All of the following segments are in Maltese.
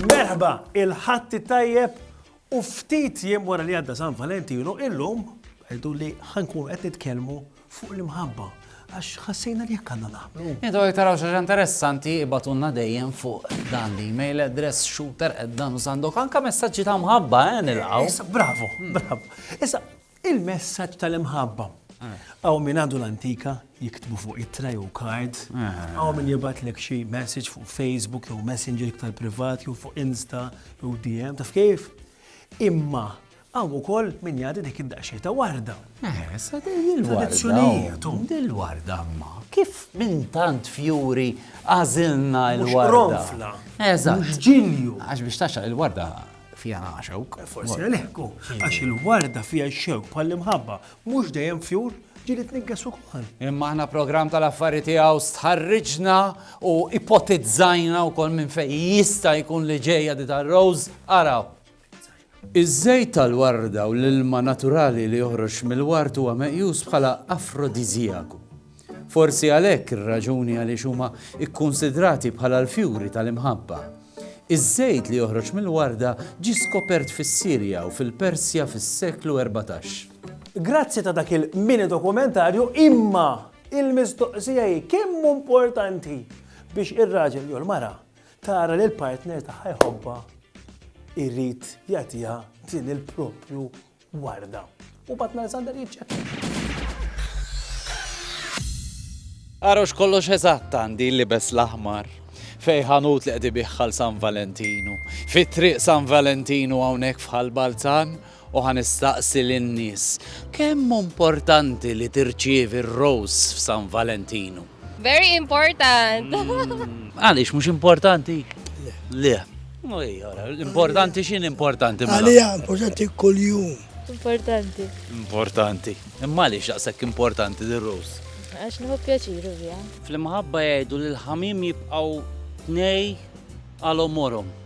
Merħba, il-ħatti tajjeb u ftit jiem wara li għadda San Valentinu illum għedu li ħankun qed nitkellmu fuq l-imħabba għax ħassejna li jekk għandna naħblu. Intu jek taraw xaġa interessanti ibatunna dejjem fuq dan li mail address shooter at dan u sandok anka messaġġi ta' mħabba eh nilqaw. Issa bravo, hmm. bravo. Issa il-messaġġ tal-imħabba. Eh. Għaw minn għandu l-antika jiktbu fuq it-tray u kard, eh. għaw minn jibat l xi message fuq Facebook jew Messenger iktar privat jew fuq Insta jew DM, taf kif? Imma Hawn ukoll min jgħadi dik id-daqsxejn ta' warda. Eħe, sa din il-warda. Tradizzjonijiet u. Dil-warda imma. Kif minn tant fjuri għażilna l-warda. Mhux qronfla. Eżatt. Mhux ġilju. Għax biex tagħxaq il-warda fiha xewk. Forsi għalhekk għax il-warda fiha x-xewk bħall-imħabba mhux dejjem fjur ġili tnigges ukoll. Imma aħna programm tal-affari tiegħu stħarriġna u ipotizzajna wkoll minn fejn jista' jkun li ġejja di tar-Rose araw. Iż-żejt tal-warda u l-ilma naturali li joħroġ mill-ward huwa meqjus bħala afrodiżjaku. Forsi għalhekk ir-raġuni għaliex huma kkunsidrati bħala l-fjuri tal-imħabba. Iż-żejt li joħroġ mill-warda ġie skopert fis-Sirja u fil-Persja fis-seklu erbatax. Grazzi ta' dak il-mini dokumentarju imma il-mistoqsija hi kemm hu importanti biex ir-raġel jew l-mara Tara li l-partner tagħha jħobbha jrid jagħtiha din il-proprju warda. U Patton Alexander jiċċekkja. Għarux kollox eżatt għandi libes l-aħmar fej ħanut li qed ibiħħal San Valentinu. Fit-triq San Valentinu hawnhekk fħal Balzan U ħa nistaqsi lin-nies, kemm hu importanti li tirċievi r-rose f'San Valentinu? Very important! Għaliex mhux importanti? Le. Importanti x'inhi importanti mela? Għalija importanti kuljum. Importanti. Importanti. Imma għaliex daqshekk importanti dir-rose? Għax nieħu pjaċiru biha. Fl-imħabba jgħidu li l-ħamiem jibqgħu tnej għal għomorhom.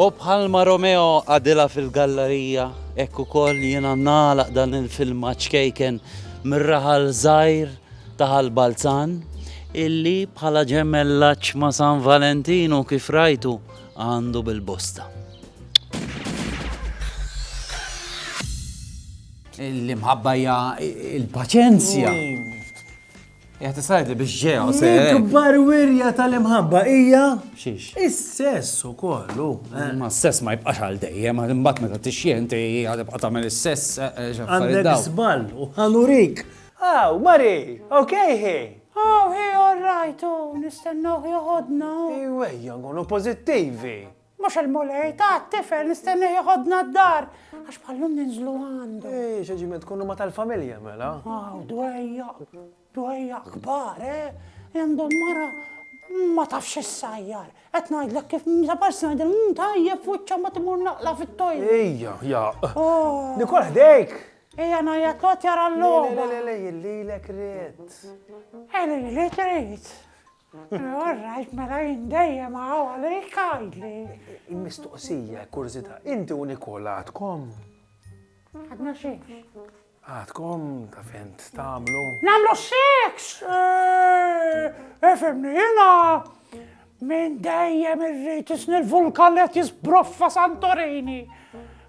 U bħalma Romeo qagħdilha fil-gallarija, hekk ukoll jiena nagħlaq dan il-filmat ċkejken mir-raħal żgħir ta' Ħal Balzan, illi bħala ġemellaġġ ma' San Valentinu kif rajtu għandu bil-bosta. L-imħabba hija l-paċenzja. Jgħat tisajt li biex ġew, se. Ikbar wirja tal-imħabba hija. Xiex? Is-sess u kollu. Eh. Ma s-sess ma jibqax għal dejjem, għad imbat meta tixjenti, għad ibqa tagħmel is-sess. Eh, eh, Għandek żball u ħanurik. Aw, Mari, okej hi. Aw, hi, all right, u nistennuh joħodna. Iwejja, nkunu pożittivi. Mhux il-Mulej, ta' t-tifel nistenneh jeħodna d-dar, għax bħal-lum ninżlu għandu. Ej, x'aġiement, tkun huma tal-familja, mela. Aw, dwejja, dwejja kbar, eh? Għandhom mara ma tafx x'issajjar. Qed ngħidlek kif meta parsi ngħidilha mhu tajjeb f'wiċċha mbagħad imur naqla' fit-toilet. Ejja, jaq. Nikol ħdejk! Ejja ngħajjat l-għotja ra l-logħba. Le, le, le, lilek ried. Ej, lilek ried. All right, mela jien dejjem hawn għalik għidli. Il-mistoqsija, kurżità, inti u Nikola għadkom? Għadna xiex. Għadkom ta' fejn tagħmlu. Nagħmlu seks! Efemni, eh, eh, jiena minn dejjem irrid isni l-vulkan li qed jisbroffa Santorini.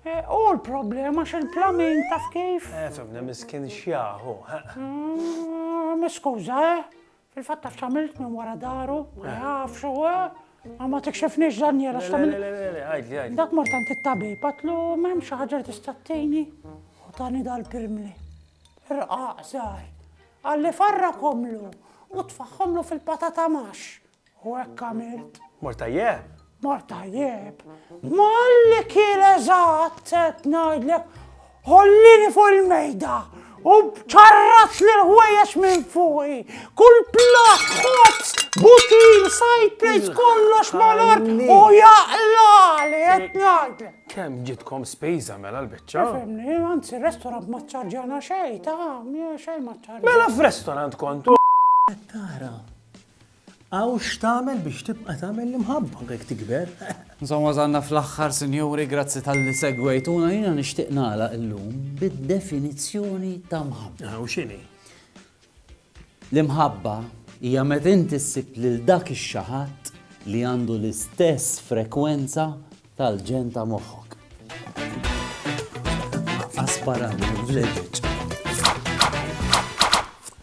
Eh, u l-problema xil-plamin taf kif? Efemni, miskin xjaħu. Ah, Miskuża, eh? Fil-fatt taf x'għamilt minn wara daru? Ma nafx, u ma tikxifniex Daniel għax tagħmel. Le, le, le, għidli, għidli. Dak mort għand it-tabib, għatlu m'hemmx xi ħaġa li tista' tgħini u tani dal-pirmli. Rqaq żgħar. Qalli farrakhomlu u tfagħhomlu fil-patata max. U hekk għamilt. Mort tajjeb? Mort tajjeb. Malli kien eżatt qed ngħidlek ħollini fuq il-mejda u ċarrat lil ħwejjeġ minn fuqi. Kull platt, ħobż, butil, side plates kollox mal-art u jaqlali qed ngħidlek. Kemm ġitkom spiża mela l-biċċa? Fimni, anzi restorant ma ċċarġana xejn, ta' xejn ma ċċarġana. Mela f'restorant kontu. Qed tara. Aw x'tagħmel biex tibqa' tagħmel l-imħabba jekk tikber. Insomma wasalna fl-aħħar sinjuri, grazzi talli segwejtuna. Jiena nixtieq nagħlaq illum bid-definizzjoni ta' mħabba. U x'inhi? L-imħabba hija meta inti ssib lil dak ix-xaħadd li għandu l-istess frekwenza tal-ġenn ta' moħħok. Asparani, vleġeġ.